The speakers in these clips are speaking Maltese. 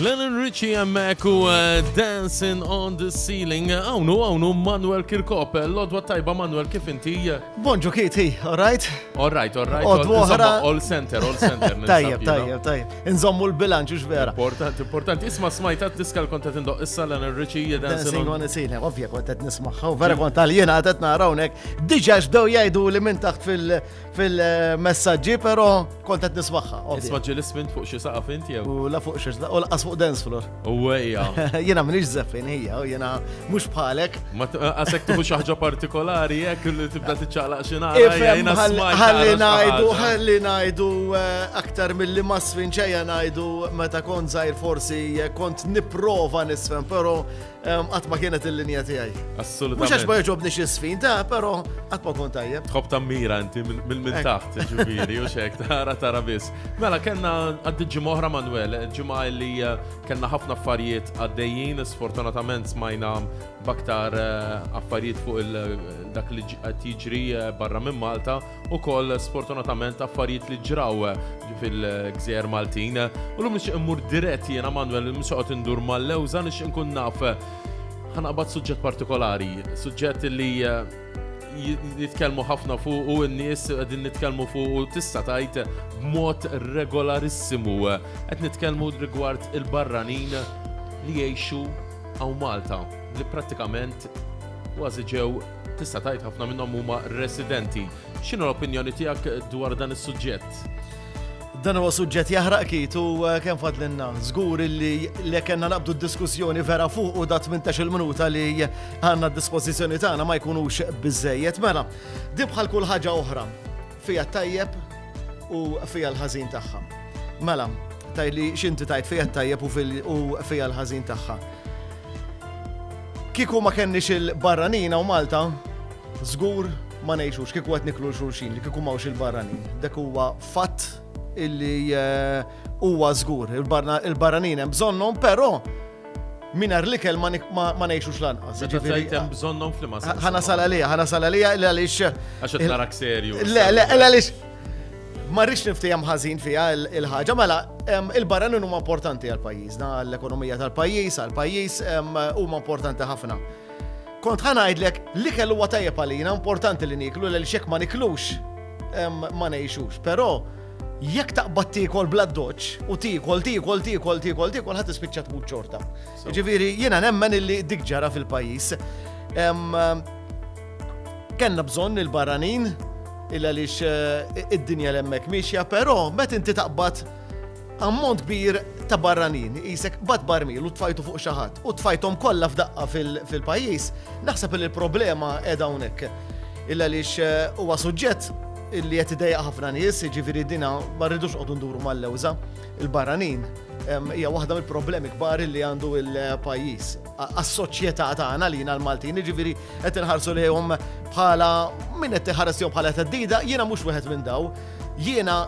Lennon Richie jemmek u eh, Dancing on the Ceiling. Għawnu, għawnu, Manuel Kirkop. Eh, L-odwa tajba, Manuel, kif inti? Eh? Bonġu kiti, all right? All right, all right. All center, all center. Tajjeb, tajjeb, tajjeb. Inżommu l-bilanċ, ux vera. Importanti, importanti. Isma smajta t-diska l-konta tindoq issa Lennon Richie Dancing on the Ceiling. Ovvja, konta t-nismaħħa, vera konta l-jena għatet narawnek. Diġax daw jajdu li minn taħt fil- Fil-messagġi però kont qed nismagħha. Isma' ġieli smint fuq xi saqaf inti jew? U la fuq xi u laqas fuq dance floor. U ejja. Jiena m'iniex żeffin hija u jiena mhux bħalek. Ma qasek tuħu xi ħaġa partikolari hekk li tibda tiċċaqlaq xi nagħra. Ħalli ngħidu, ħalli ngħidu eh, aktar milli ma sfinċejja ngħidu meta kont żgħir forsi eh, kont nipprova nisfem, però Qatt ma kienet il-linja tiegħi. Assolutament. Mhux għax ma jogħġobni xi sfin ta' però qatt ma kont tajjeb. Tħobb tammira inti minn minn taħt, ġifieri, u xek, tara tara biss. Mela kellna għaddi ġimgħa oħra Manuel, ġimgħa li eh, kellna ħafna affarijiet għaddejjin, sfortunatament smajna baktar eh, affarijiet fuq il-dak eh, li qed jiġri barra minn Malta. ukoll sfortunatament affarijiet li ġraw fil-gżejjer Maltin. U l-lum nixtieq immur dirett jiena Manuel mhux qed indur mal-lewża nixtieq nkun naf ħanaqbad suġġett partikolari, suġġett li jitkellmu ħafna fuq u n-nies qegħdin nitkellmu fuq u tista' tajt b'mod regolarissimu. Qed nitkellmu rigward il-barranin li jgħixu għaw Malta li prattikament kważi ġew Tista' tgħid ħafna minnhom huma residenti. X'inhu l-opinjoni tiegħek dwar dan is-suġġett? Dan huwa suġġett jaħraq kit u eh, kemm fadlinna. Żgur li li kellna naqbdu d-diskussjoni vera fuq u da 18 il-minuta li għandna d-dispożizzjoni tagħna ma jkunux biżejjed. Mela, di bħal kull ħaġa oħra. Fiha t-tajjeb u fiha l-ħażin tagħha. Mela, tgħid li x'inti tgħid fiha t-tajjeb u fiha l-ħażin tagħha. Kieku ma kenniex il-barranina u Malta, żgur ma ngħixux kieku qed niklu xulxin li kieku mawx il-barranin. Dak huwa fatt illi eh, huwa żgur. Il-barranin hemm bżonnhom, però Mingħajr l-ikel ma ngħixux lanqas. Meta tgħid hemm bżonnhom f'liema sens. Ħa nasal għalija, ħa nasal għalija il għaliex. Għax qed narak serju. Le, le, il għaliex. Ma rridx niftehom ħażin fiha il-ħaġa, mela il-barran huma importanti għal pajjiżna, l-ekonomija tal-pajjiż, għal pajjiż huma importanti ħafna. Kont ħa ngħidlek li kellu huwa tajjeb għalina importanti li niklu l xek ma niklux ma ngħixux, però Jekk taqbad tiekol bla doċ u tiekol, tiekol, tiekol, tiekol, tiekol, ħat tispiċċa tmut ċorta. Ġifieri jiena nemmen illi dik ġara fil-pajjiż. Kenna bżonn il-barranin il għaliex eh, id-dinja l-emmek miexja, però met inti taqbad ammont kbir ta' barranin, jisek bat barmil u tfajtu fuq xaħat u tfajtom kollha f'daqqa fil-pajjiż, naħseb li l-problema edha hawnhekk. Illa lix eh, huwa suġġett li qed idejjaq ħafna nies, jiġifieri dinha ma rridux noqogħdu nduru mal-lewża, il-barranin, hija waħda mill-problemi kbar li għandu l-pajjiż għas-soċjetà tagħna għalina l-Maltin, jiġifieri qed inħarsu lejhom bħala min qed iħares lejhom bħala theddida, jiena mhux wieħed minn dawn. Jiena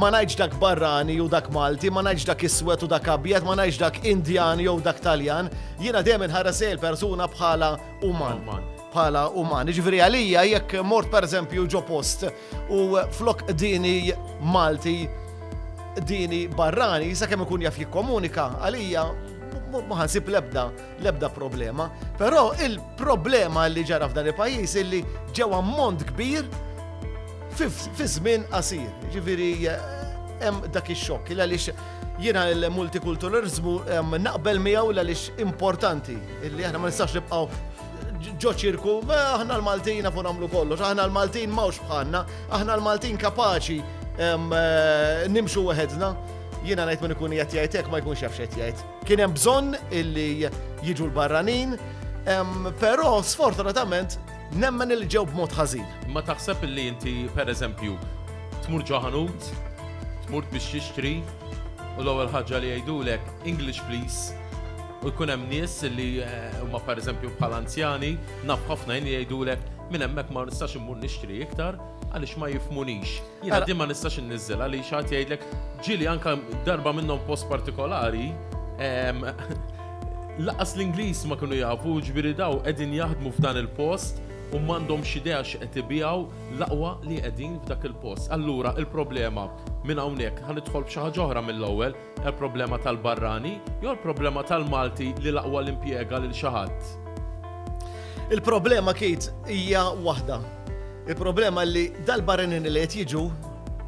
ma ngħidx dak barrani jew dak Malti, ma ngħidx dak iswed u dak abjad, ma ngħidx dak Indjan jew dak Taljan, jiena dejjem inħares lejn il-persuna bħala uman. bħala uman. Jiġifieri għalija jekk mort pereżempju ġo post u flok dini Malti dini barrani, sa kemm ikun jaf jikkomunika għalija ma ħansib lebda lebda problema. Però il-problema li ġara f'dan il-pajjiż illi ġew ammont kbir fi żmien qasir. Ġifieri hemm dak ix-xokk il għaliex jiena l-multikulturalizmu naqbel miegħu l għaliex importanti illi aħna ma nistax nibqgħu ġo ċirku, aħna l-Maltin nafu namlu kollox, aħna l-Maltin mawx bħanna, aħna l-Maltin kapaċi eh, nimxu weħedna. Jiena ngħid minn ikun qed jgħidek ma jkunx jafx qed jgħid. Kien hemm bżonn illi jiġu l-barranin, però sfortunatament nemmen il ġew b'mod ħażin. Ma taħseb illi inti pereżempju tmur ġoħanut, tmur biex jixtri u l-ewwel ħaġa li jgħidulek English please U jkun hemm nies li huma pereżempju bħal anzjani, naf ħafna jien jgħidulek minn hemmhekk ma nistax immur nixtri iktar għaliex ma jifhmunix. Jiena din ma nistax inniżżel għaliex ħadd jgħidlek ġieli anke darba minnhom post partikolari laqas l-Ingliż ma kienu jafu ġifieri daw qegħdin jaħdmu f'dan il-post u m'għandhomx idea x'qed ibiegħu l-aqwa li qegħdin f'dak il-post. Allura il-problema minn hawnhekk ħa nidħol f'xi ħaġa oħra mill-ewwel Il-problema tal-barrani jew il-problema tal-Malti li l-aqwa li impjega lil xi ħadd? Il-problema, Keith, hija waħda. Il-problema li dal-barranin li qed jiġu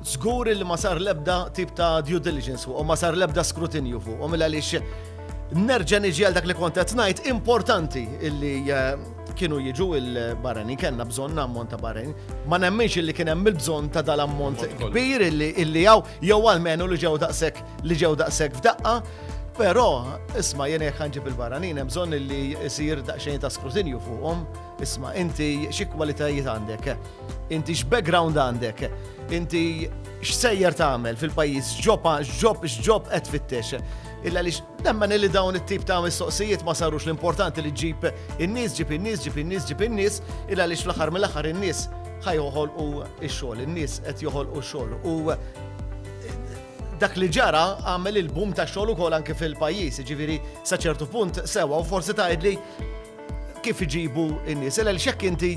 żgur li ma sar l-ebda tip ta' due diligence fuqhom, ma sar l-ebda skrutinju fuqhom il għaliex nerġa' niġi għal dak li kont qed ngħid importanti illi eh, kienu jiġu il-barranin, kellna bżonn ammont ta' barranin. Ma nemminx illi kien hemm il-bżonn ta' dal-ammont kbir illi hawn Jew almenu li ġew daqshekk li ġew daqshekk f'daqqa, però isma' jien jekk ħanġib il-barranin hemm bżonn li jsir daqsxejn ta' skrutinju fuqhom. Isma' inti xi kwalitajiet għandek? Inti x'background għandek? Inti x'sejjer tagħmel fil-pajjiż? X'ġob x'ġob x'ġob qed tfittex? Illa li nemmen li dawn it-tip ta' mistoqsijiet ma sarux l-importanti li ġib in-nies, ġib in-nies, ġib in-nies, ġib in-nies, illa li fl-aħħar mill-aħħar in-nies Ħa joħolqu x-xogħol, in-nies qed joħolqu x-xogħol u dak li ġara għamel il-bum ta' xogħol ukoll anke fil-pajjiż, ġifieri sa ċertu punt sewa u forsi tgħidli kif iġibu n-nies. Ela xekk inti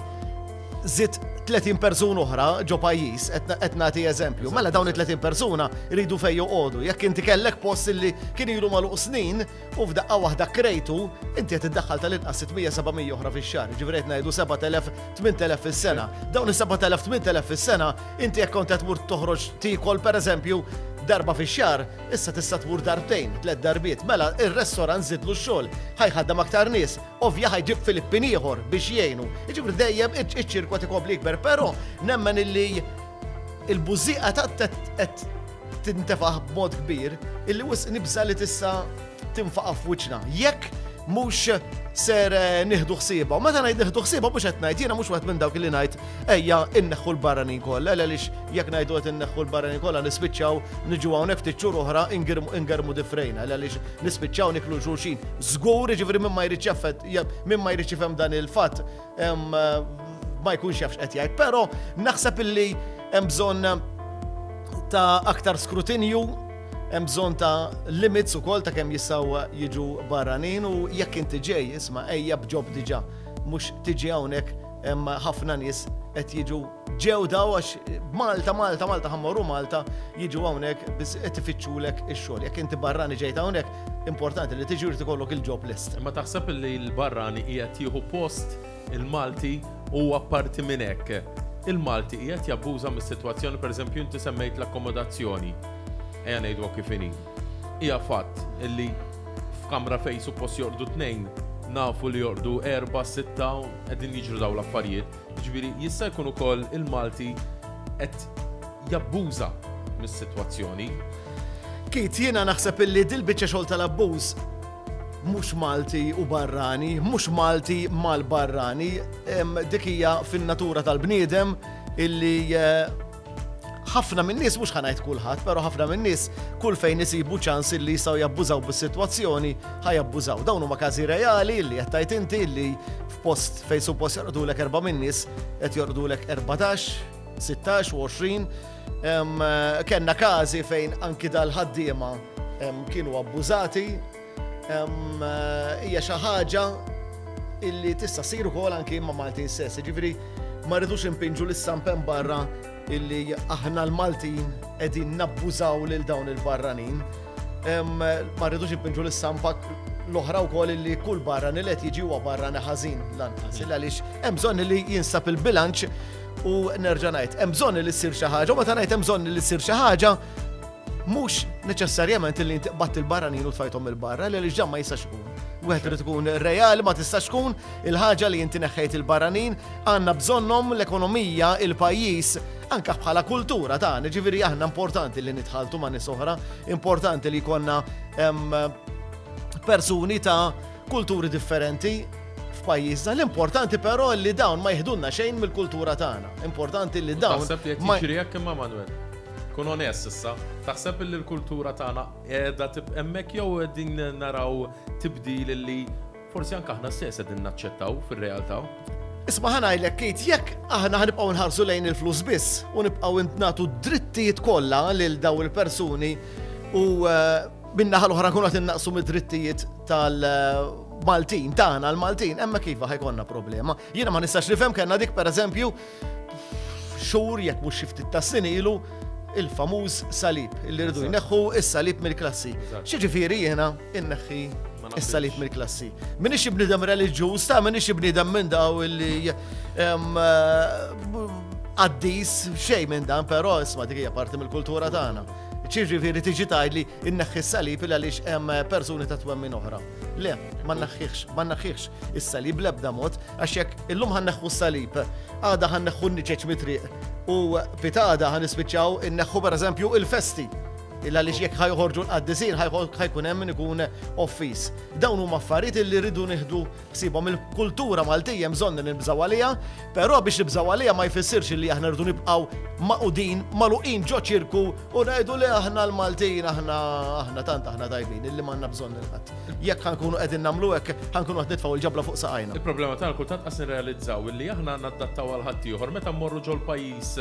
zit 30 persuna oħra ġo pajjiż qed nagħti eżempju. Mela dawn it-30 persuna jridu fejn joqogħdu. Jekk inti kellek post li kien ilu magħluq snin, u f'daqqa waħda krejtu, inti qed iddaħħal tal-inqas 600, 700 oħra fix-xahar, jiġifieri qed ngħidu 7,000, 8,000 fis-sena. Dawn is-7,000, 8,000 fis-sena, inti jekk kont qed tmur toħroġ tiekol pereżempju darba fix-xahar, issa tista' tmur darbtejn, tliet darbiet, mela ir-restorant żidlu x-xogħol, ħajħaddam aktar nies, ovvja ħajġib Filippin ieħor biex jgħinu. Jiġifieri dejjem iċ-ċirku qed ikompli jikber, però nemmen illi il-bużieqa ta' qed tintefaħ b'mod kbir illi wisq nibża li tista' tinfaqa' f'wiċċna. Jekk mhux ser eh, nieħdu ħsieba. U meta ngħid nieħdu ħsieba mhux qed ngħid, jiena mhux wieħed minn dawk li ngħid ejja inneħħu l-barranin kollha, għaliex jekk ngħidu qed inneħħu l-barranin kollha nispiċċaw niġu hawnhekk ftit xhur oħra ingermu difrejna, għaliex nispiċċaw niklu xulxin. Żgur, jiġifieri minn ma jrid min ma jrid jifhem dan il-fatt, ma jkunx jafx qed jgħid, però naħseb illi hemm bżonn ta' aktar skrutinju, hemm bżonn ta' limits ukoll ta' kemm jistgħu jiġu barranin u jekk inti ġej, isma' ejja bġob diġà, mhux tiġi hawnhekk hemm ħafna nies qed jiġu ġew daw għax Malta, Malta, Malta ħammoru Malta jiġu hawnhekk biss qed ifittxulek ix-xogħol. Jekk inti barrani ġejt hawnhekk, Importanti li tiġi jrid ikollok il-job list. Imma taħseb li l-barrani qiegħed jieħu post il-Malti u apparti minn hekk, il-Malti qiegħed jabbuża mis-sitwazzjoni, pereżempju inti semmejt l-akkomodazzjoni, ejja ngħiduha kif inhi. Hija fatt li f'kamra fejn suppost jorqdu tnejn, nafu li jorqdu erba', sitta u qegħdin jiġru dawn l-affarijiet. Jiġifieri jista' jkun ukoll il-Malti qed jabbuża mis-sitwazzjoni. Keith, jiena naħseb illi dil-biċċa xogħol tal-abbuż mhux Malti u barrani, mhux Malti mal-barrani, dik hija fin-natura tal-bniedem illi eh, ħafna minn nies mhux ħanajt kulħadd, però ħafna minn nies kull fejn isibu ċans illi jistgħu jabbużaw bis-sitwazzjoni ħajabbużaw. Dawn huma każi reali li qed tgħid inti li f'post fejn suppost jorqdulek erba' minn nies qed jorqdulek 14 16 u 20 kellna każi fejn anki dal-ħaddiema kienu abbużati hija xi ħaġa illi tista' ssir ukoll anki ma' Malti stess. Ġifieri ma rridux impinġu l sampen barra illi aħna l-Maltin qegħdin nabbużaw lil dawn il-barranin. Ma rridux impinġu l sampa l-oħra wkoll li kull barra nilet jiġi huwa barra neħażin lanqas. Illa għaliex hemm bżonn li jinsab il-bilanċ U nerġa' ngħid, hemm bżonn li ssir xi ħaġa, u meta ngħid hemm bżonn li ssir xi ħaġa, mhux neċessarjament li inti qbatt il-barranin u tfajthom il-barra, li ġdan ma jistax ikun. Wieħed irid ikun reali ma tistax tkun il-ħaġa li inti neħħejt il-barranin, għandna bżonnhom l-ekonomija, il-pajjiż, anka bħala kultura ta' ġifieri aħna importanti li nitħaltu ma' nies oħra, importanti li jkollna persuni ta' kulturi differenti f'pajjiżna. L-importanti però li dawn ma jihdunna xejn mill-kultura tagħna. Importanti li dawn. Taħseb li qed jiġri hekk imma Manuel. Kun onest issa, taħseb li l-kultura tagħna qiegħda tibqa' hemmhekk jew qegħdin naraw tibdil li forsi anke aħna stess qegħdin naċċettaw fir-realtà? Isma' ħanajlek kit jekk aħna ħanibqgħu nħarsu lejn il-flus biss u nibqgħu nagħtu drittijiet kollha lil daw il-persuni u eh, Min-naħa l-oħra nkunu qed innaqsu mid-drittijiet tal- Maltin, tagħna l-Maltin, emma kif ħajkonna problema. Jiena ma nistax nifhem kellna dik pereżempju xhur jekk mhux xi ftit tas-sin ilu il-famuż salib illi rridu jneħħu is-salib mill-klassi. Xiġifieri jiena inneħħi is-salib mill-klassi. Minix ibnidem reliġjuż, ta' minix ibnidem minn daw illi għaddis xejn minn dan, però isma' dik hija parti mill-kultura tagħna. Ċiġifieri tiġi tgħidli inneħħi s-salib il għaliex hemm persuni ta' twemmin oħra. Le, ma nneħħihx, ma nneħħihx is-salib l-ebda mod, għax jekk illum ħanneħħu s-salib, għada ħanneħħu n-niċeċ mitriq u pitada ħanispiċċaw inneħħu pereżempju il-festi. Il għaliex jekk ħajħorġu l-qaddisin ħajkun hemm min ikun office. Dawn huma affarijiet li rridu nieħdu Sibhom il-kultura Maltija hemm bżonn li nibżgħu għaliha, però biex nibżgħu għaliha ma jfissirx illi aħna rridu nibqgħu magħqudin, magħluqin ġo ċirku u ngħidu li aħna l-Maltin aħna aħna tant aħna tajbin illi m'għandna bżonn lil ħadd. Jekk ħa nkunu qegħdin nagħmlu hekk, ħa nkunu qed nitfgħu l-ġabla fuq saqajna. Il-problema tagħna kultant qas nirrealizzaw illi aħna nadattaw għal ħaddieħor meta mmorru ġol-pajjiż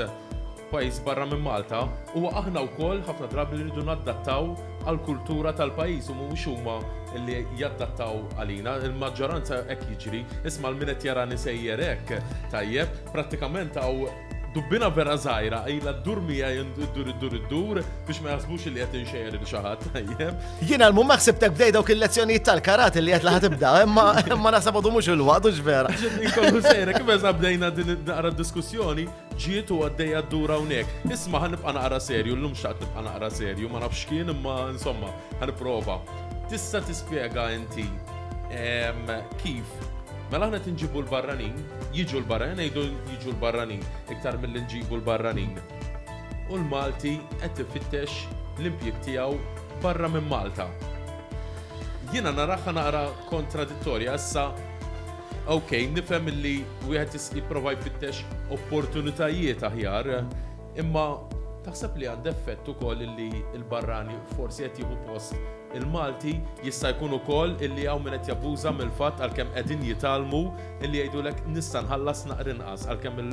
pajjiż barra minn Malta, huwa aħna wkoll ħafna drabi li rridu naddattaw għall-kultura tal-pajjiż u mhuwiex huma li jaddattaw għalina. Il-maġġoranza hekk jiġri. Isma' l-min qed jarani sejjer hekk, tajjeb, prattikament hawn dubbina vera żgħira ilha ddur miegħi iddur iddur iddur biex ma jaħsbux li qed inxejjer lil xi ħadd, tajjeb. Jiena l-mum ma ħsibtek bdej dawk il-lezzjonijiet tal-karate li qed laħat ibda, imma imma naħseb għadu mhux il-waqt u vera. Ġiet inkollu sejra kif eża bdejna din naqra diskussjoni, Ġiet u għaddejja ddur hawnhekk. Isma' ħa nibqa' naqra serju, llum xtaqt nibqa' naqra serju, ma nafx x'kien imma insomma, ħa nipprova. Tista' tispjega inti kif Mela aħna qed inġibu l-barranin, jiġu l-barranin, ngħidu jiġu l-barranin iktar milli nġibu l-barranin. U l-Malti qed ifittex l-impjieg tiegħu barra minn Malta. Jiena naraha naqra kontradittorja issa Ok, nifhem li wieħed jipprova jfittex opportunitajiet aħjar, imma taħseb li għand effett ukoll li l-barrani forsi qed jieħu post il-Malti jista' jkun ukoll illi hawn min qed jabbuża mill-fatt għalkemm qegħdin jitgħallmu illi jgħidulek nista' nħallas naqr inqas għalkemm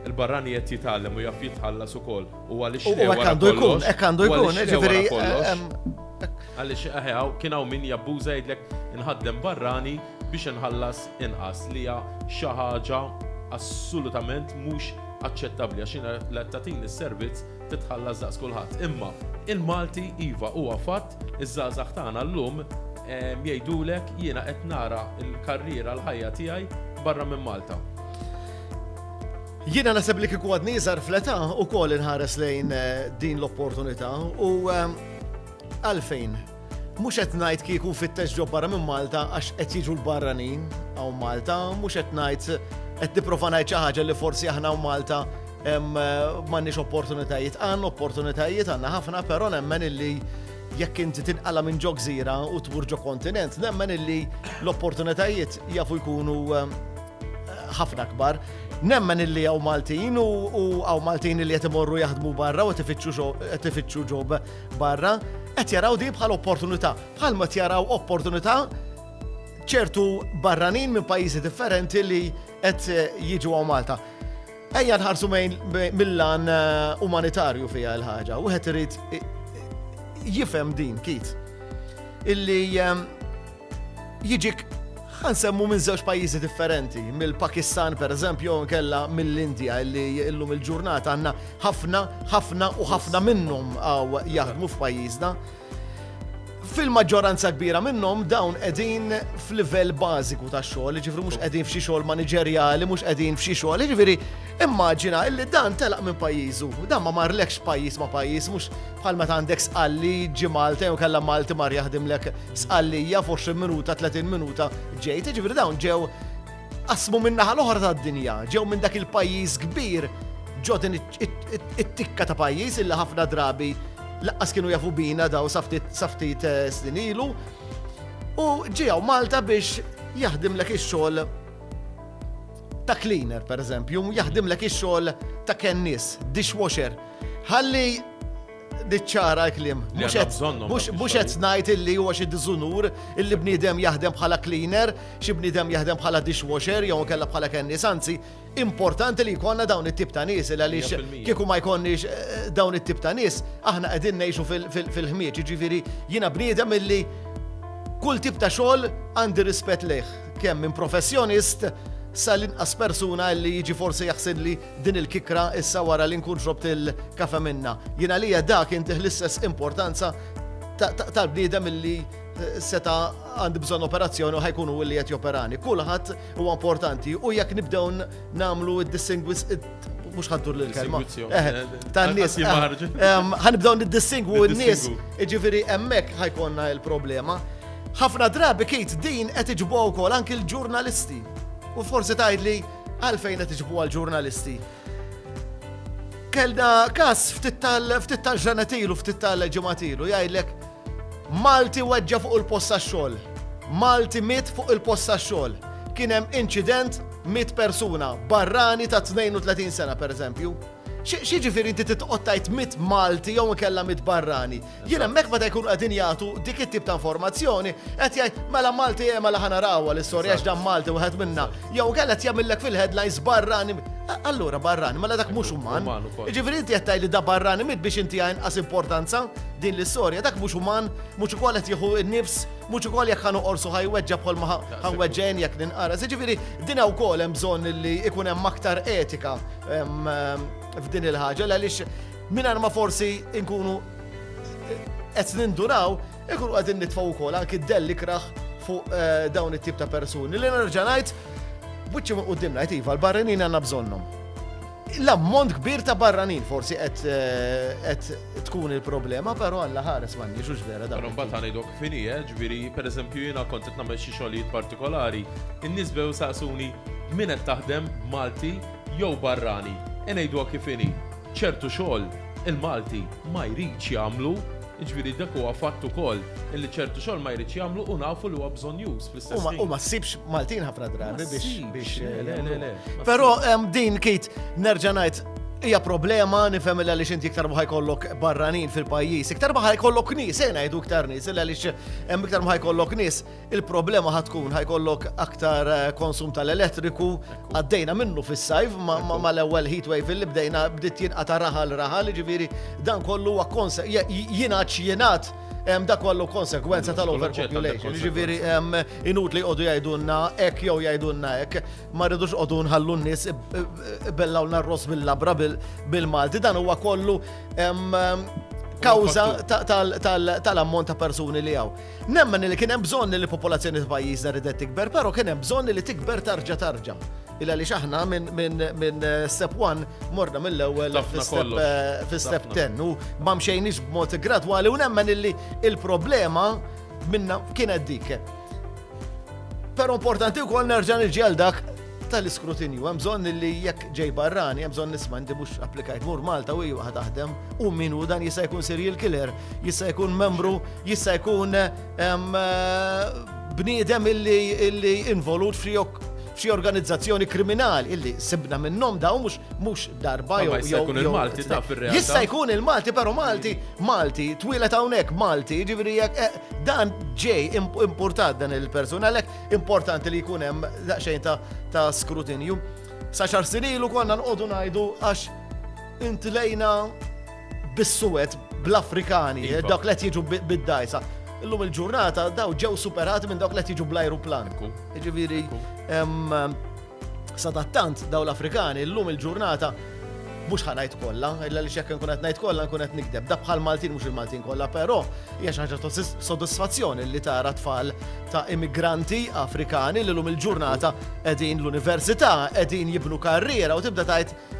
il-barrani qed jitgħallem u jaf jitħallas ukoll u għaliex le wara kollox. Hekk għandu jkun, ġifieri eh, eh, għaliex eh, kien hawn min jabbuża jgħidlek inħaddem barrani biex inħallas inqas li hija xi ħaġa assolutament mhux aċċettabbli għax jiena li qed tagħtini s-servizz trid tħallas daqs kulħadd. Imma il-Malti iva huwa fatt, iż-żgħażagħ tagħna llum jgħidulek jiena qed nara l-karriera l-ħajja tiegħi barra minn Malta. Jiena naħseb li kieku għadni żgħar fl-età ukoll inħares lejn din l-opportunità u għalfejn Mhux qed ngħid kieku nfittex ġo barra minn Malta għax qed jiġu l-barranin hawn Malta, mhux qed ngħid qed nipprova ngħid xi ħaġa li forsi aħna hawn Malta m'għandniex opportunitajiet. Għandna opportunitajiet għandna ħafna, però nemmen illi jekk inti tinqala minn ġo gżira u tmur ġo kontinent, nemmen illi l-opportunitajiet jafu jkunu ħafna kbar. Nemmen illi għaw Maltin u għaw Maltin illi jtimorru jaħdmu barra u tifittxu ġob barra, qed jaraw din bħal opportunità, bħal ma jaraw opportunità ċertu barranin minn pajjiżi differenti li qed eh, jiġu għaw Malta. Ejja nħarsu mill-lan eh, umanitarju fija l-ħaġa, u għet irrit eh, jifem din, kit. Illi Jiġik, ħa nsemmu minn żewġ pajjiżi differenti, mill-Pakistan pereżempju jew inkella mill-Indja li illum il-ġurnata għandna ħafna, ħafna u ħafna minnhom għaw jaħdmu f'pajjiżna. Fil-maġġoranza kbira minnhom dawn qegħdin f'livell bażiku ta' xogħol, ġifri mhux qegħdin f'xi xogħol maniġerjali, mhux qegħdin f'xi xogħol, ġifri immaġina illi dan telaq minn pajjiżu, dan ma marlekx pajjiż ma' pajjiż, mhux bħal meta għandek sqalli ġi Malta jew kellha Malti mar jaħdimlek Sqallija f'20 minuta, 30 minuta ġejt, ġifieri dawn ġew qasmu minn naħa l-oħra tad-dinja, ġew minn dak il-pajjiż kbir ġo din it-tikka ta' pajjiż illi ħafna drabi laqqas kienu jafu bina daw saftit eh, snin ilu. U ġew Malta biex jaħdim l ix-xogħol ta' cleaner, per eżempju, jaħdimlek ix-xogħol ta' kennis, dishwasher. Ħalli Diċċara l-klim. Mhux qed ngħid illi huwa xi diżunur illi bniedem jaħdem bħala cleaner, xi bniedem jaħdem bħala dishwasher jew kellha bħala kennis, anzi importanti li jkollna dawn it-tip ta' nies il għaliex kieku ma jkollniex eh, dawn it-tip ta' nies aħna qegħdin ngħixu fil-ħmieġ, jiġifieri jiena bniedem illi kull tip ta' xogħol għandi rispett lejh kemm minn professjonist sal-inqas persuna li jiġi forsi jaħseb li Din il-kikra issa wara li nkun xrobt il-kafe minnha. Jien għalija da kien tih l-istess importanza tal-bniedem illi seta' għandi bżonn operazzjoni u ħajkun hu li qed joperani. Kulħadd huwa importanti u jekk nibdew nagħmlu d-dissingwis mhux ħaddur lil kelma. Tan-nies ħanibdew niddissingwu n-nies, jiġifieri hemmhekk ħajkonna il-problema. Ħafna drabi kit din qed iġbgħu wkoll anki l-ġurnalisti. U forsi tgħid li Għalfejn qed iġibuha l-ġurnalisti? Kellna kas ftit tal-ġranet ilu, ftit tal-ġimgħat ilu, jgħidlek Malti weġġa fuq il-posta xogħol. Malti mit fuq il-posta xogħol. Kien hemm inċident mit persuna, barrani ta' 32 sena pereżempju. Xi ġifieri inti titqgħod tgħid mit Malti jew ikella mit barrani? Jien hemmhekk meta jkunu qegħdin jagħtu dik it-tip ta' informazzjoni qed jgħid mela Malti eh, mela ħana rawha l-istorja għax dan Malti wieħed minna. Jew kell qed jagħmillek fil-headlines barrani. Allura barrani, mela dak mhux uman. Ġifieri inti qed li da barrani mit biex inti għas importanza din l-istorja, dak mhux uman, mhux ukoll qed jieħu n-nifs, mhux ukoll jekk ħanu qorsu ħajweġġa bħal ma ħanweġġen jekk ninqara. Ġifieri din wkoll hemm bżonn li ikun hemm aktar etika f'din il-ħaġa għaliex Mingħajr ma forsi nkunu qed ninduraw, ikunu qegħdin nitfgħu wkoll anki d-dell ikraħ fuq eh, dawn it-tip ta' persuni li nerġa' ngħid buċċi minn qudiem ngħid iva l-barranin għandna bżonnhom. L-ammont kbir ta' barranin forsi qed eh, tkun il-problema, però għalla ħares ma nix vera dan. Però mbagħad ngħidok fini, eh, ġifieri pereżempju jiena kont qed nagħmel xi xogħlijiet partikolari, in-nies bew saqsuni min qed taħdem Malti jew barrani. Inejdu kif inhi. ċertu xogħol il-Malti ma jridx jagħmlu, jiġifieri dak huwa fatt ukoll illi ċertu xogħol ma jridx jagħmlu u nafu li huwa bżonnjuż fl-istess ħin. U ma ssibx Maltin ħafna drabi biex. Però din kit nerġa' ngħid hija problema nifhem li għaliex inti iktar ma ħajkollok barranin fil-pajjiż, iktar ma ħajkollok nies, se ngħidu iktar nies, illa għaliex hemm iktar ma ħajkollok nies, Il-problema ħad tkun ħajkollok aktar eh, konsum tal-elettriku għaddejna minnu fis-sajf ma l-ewwel heat wave li bdejna bdiet jinqata' raħal raħal, ġifieri dan kollu huwa konse jingħad jingħad da kollu konsekwenza tal-overpopulation. Ġifieri inut li jqogħdu jgħidulna hekk jew jgħidulna hekk, ma rridux qogħdu nħallu n-nies bellaw narros bil-labra bil-Malti, dan huwa kollu kawża tal-ammont ta' persuni li hawn. Nemmen li kien hemm bżonn li l-popolazzjoni ta' pajjiżna ridet tikber, però kien hemm bżonn li tikber tarġa' tarġa'. Illa għaliex aħna minn step one morna mill-ewwel fi step ten u ma mxejniex b'mod gradwali u nemmen illi il-problema minna kienet dik. Però importanti wkoll nerġa' niġi għal dak tal-iskrutinju. Hemm bżonn li jekk ġej barrani, hemm bżonn nisma' inti mhux applikajt mur Malta u ieħor taħdem u min hu dan jista' jkun serial killer, jista' jkun membru, jista' jkun ehm, bniedem illi involut f'riok f'xi organizzazzjoni kriminali illi sibna minnhom daw mhux mhux darba jew jista' jkun il-Malti ta' fir-realtà. Jista' jkun il-Malti però Malti, Malti, twilet hawnhekk Malti, jiġifieri jekk eh, dan ġej importat dan il-persuna għalhekk Importanti li jkun hemm daqsxejn ta' skrutinju. Sa xar sinilu konna nqogħdu ngħidu għax intilejna bis-suwed bl-Afrikani, iva. dawk li jiġu bid-dajsa. Illum il-ġurnata daw ġew superati minn dawk li jiġu bl-ajruplan. Ġifieri Sadattant daw l-Afrikani llum il-ġurnata mhux ħanajt kollha, illa li xekk nkun qed ngħid kollha nkun qed nikdeb. Da bħal Maltin mhux il-Maltin kollha, però hija xi ħaġa ta' sodisfazzjoni li tara tfal ta' immigranti Afrikani li llum il-ġurnata qegħdin l-università, qegħdin jibnu karriera u tibda tgħid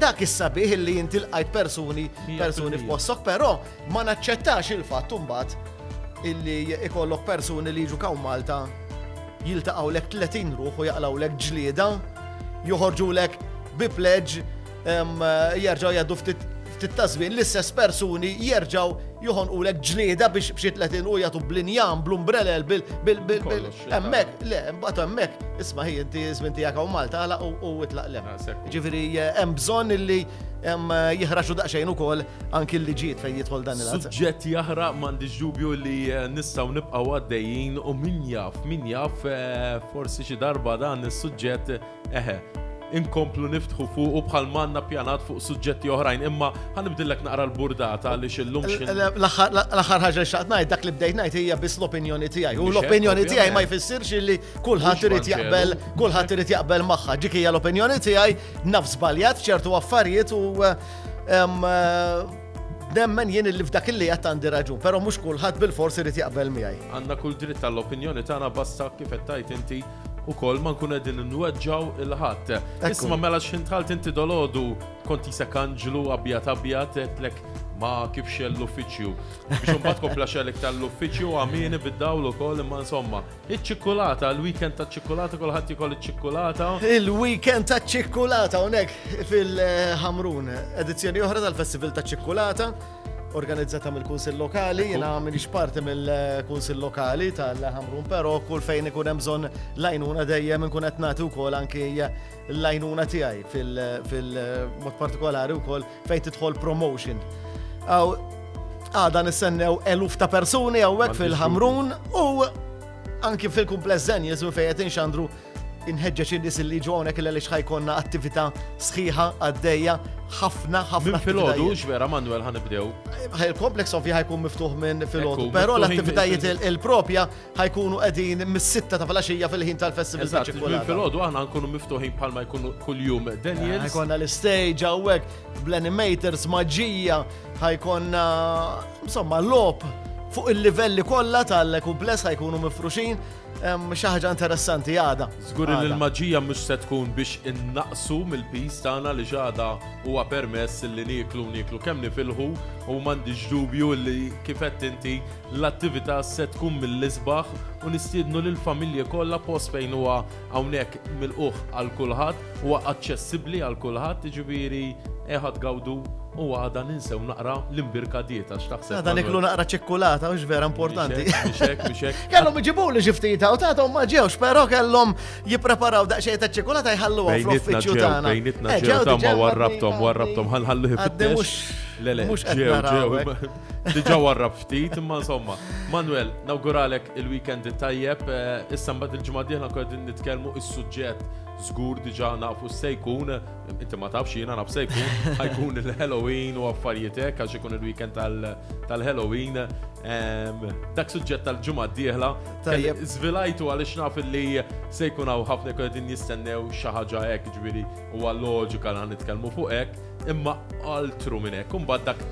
dak is-sabiħ li inti lqajt persuni persuni f'possok, però Ma naċċettax il-fatt imbagħad illi ikollok persuni li jiġu khawn Malta jiltaqgħulek 30 ruħ u jaqlgħulek ġlieda, joħorġulek bi pledge jerġgħu jgħaddu ftit ftit ta' żmien l-istess persuni jerġgħu joħonqulek ġlieda biex b'xi 30 u jagħtu blinjan, bl-umbrelel, bil hemmhekk, le, mbagħad hemmhekk, isma' hi inti żmien tiegħek hawn Malta għalaq u itlaq lem. Ah, Ġifieri eh, hemm bżonn illi eh, jihraxu daqsxejn ukoll anki l-liġijiet fejn jidħol dan il-għazza. Suġġett jahra mandi ġubju li eh, nistaw nibqaw għaddejjin u min jaf, min jaf eh, forsi xi darba dan is-suġġett eħe inkomplu niftħu fuq u bħal manna pjanat fuq suġġetti oħrajn, imma ħanibdillek naqra l-burdata li xillum xin. L-axar ħagġa xaqt najt, dak li bdejt najt hija biss l-opinjoni tiegħi. U l-opinjoni tiegħi ma jfissirx li kulħadd irid jaqbel, kulħadd irid jaqbel magħha. Dik hija l-opinjoni tiegħi naf żbaljat ċertu affarijiet u eh, Nemmen jien li f'dak li qed għandi raġun, però mhux kulħadd bil-forsi irid jaqbel miegħi. Għandna kull dritt tal-opinjoni tagħna basta kif qed tgħid inti ukoll ma nkun qegħdin nweġġaw il-ħadd. Isma' mela x'ħin tħalt inti dolodu kont isek anġlu abjad abjad qedlek ma kif xell l-uffiċċju. Biex imbagħad kompla xell iktar l-uffiċċju għamieni bid-dawl ukoll imma insomma Iċ-ċikkulata, il-weekend ta' ċikkulata, kulħadd jikol iċ-ċikkulata. Il-weekend ta' ċikkulata unek fil-Ħamrun, edizzjoni oħra tal-Festival ta' ċikkulata, organizzata mill-Kunsil Lokali, jena minix parti mill-Kunsil Lokali tal-Ħamrun, pero kull fejn ikun hemm bżonn lajnuna dejjem nkun qed nagħti wkoll anki l-għajnuna tiegħi fil-mod partikolari wkoll fejn tidħol promotion. Aw għada nistennew eluf ta' persuni hawnhekk fil-Ħamrun u anki fil-kumpless zen jesu fejn qed inxandru inħeġġeġ in-nies li ġu hawnhekk li għaliex ħajkonna attività sħiħa għaddejja ħafna ħafna. Minn filgħodu x'vera Manuel ħanibdew. Il-kompleks ovvja ħajkun miftuħ minn filgħodu, però l-attivitajiet il-propja ħa jkunu qegħdin mis-sitta ta' filgħaxija fil-ħin tal-festival ta' ċikkulata. Eżatt, fil-ħodu aħna nkunu miftuħin bħalma jkunu kuljum Daniel. Ħajkonna l-istage hawnhekk bl-animators maġġija, ħajkonna insomma lop fuq il-livelli kollha tal-kumpless ħajkunu mifruxin xi ħaġa interessanti għada. Żgur li l-maġija mhux se tkun biex innaqsu mill-pis tagħna li ġada huwa permess li nieklu nieklu kemm nifilħu u m'għandix dubju li kifett inti L-attività se tkun mill-isbaħ u nistiednu lill-familji kollha post fejn huwa hawnhekk milqugħ għal kulħadd, huwa aċċessibbli għal kulħadd, jiġifieri ejħa tgawdu u għada ninsew naqra l-imbirka dieta x'taħseb. Għada niklu naqra ċikkulata u vera importanti. Mixek, mixek. Kellhom iġibuli xi ftit u tagħhom ma ġewx, però kellhom jippreparaw daqsxejn ta' ċikkulata jħalluha fl-uffiċċju tagħna. Bejnitna eh, ġew ta' ma warrabtom, warrabtom ħalħallu ħibtix. Mhux ġew ġew. Diġa warrab ftit, imma insomma. Manuel, nawguralek il-weekend tajjeb, eh, issa mbagħad il-ġimgħa dieħla nkun qegħdin nitkellmu is-suġġett żgur diġa nafu se jkun, inti ma tafx jiena naf se jkun, ħajkun il-Halloween u affarijiet hekk għax ikun il-weekend tal-Halloween. Ehm, dak suġġett tal-ġimgħa dieħla tajjeb żvilajtu għaliex naf li se jkun hawn ħafna jkun qegħdin jistennew xi ħaġa hekk ġifieri huwa loġika li nitkellmu fuq hekk, imma altru minn hekk, imbagħad dak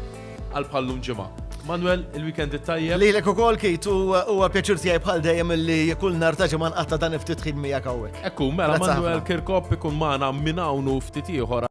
għal bħal lum ġimgħa. Manuel, il-weekend it-tajjeb. Lilek ukoll kit u huwa pjaċir tiegħi bħal dejjem li kull nhar ta' ġimgħa nqatta' dan ftit ħin miegħek hawnhekk. Ekku, mela Manuel Kirkop ikun magħna minn hawn u ftit ieħor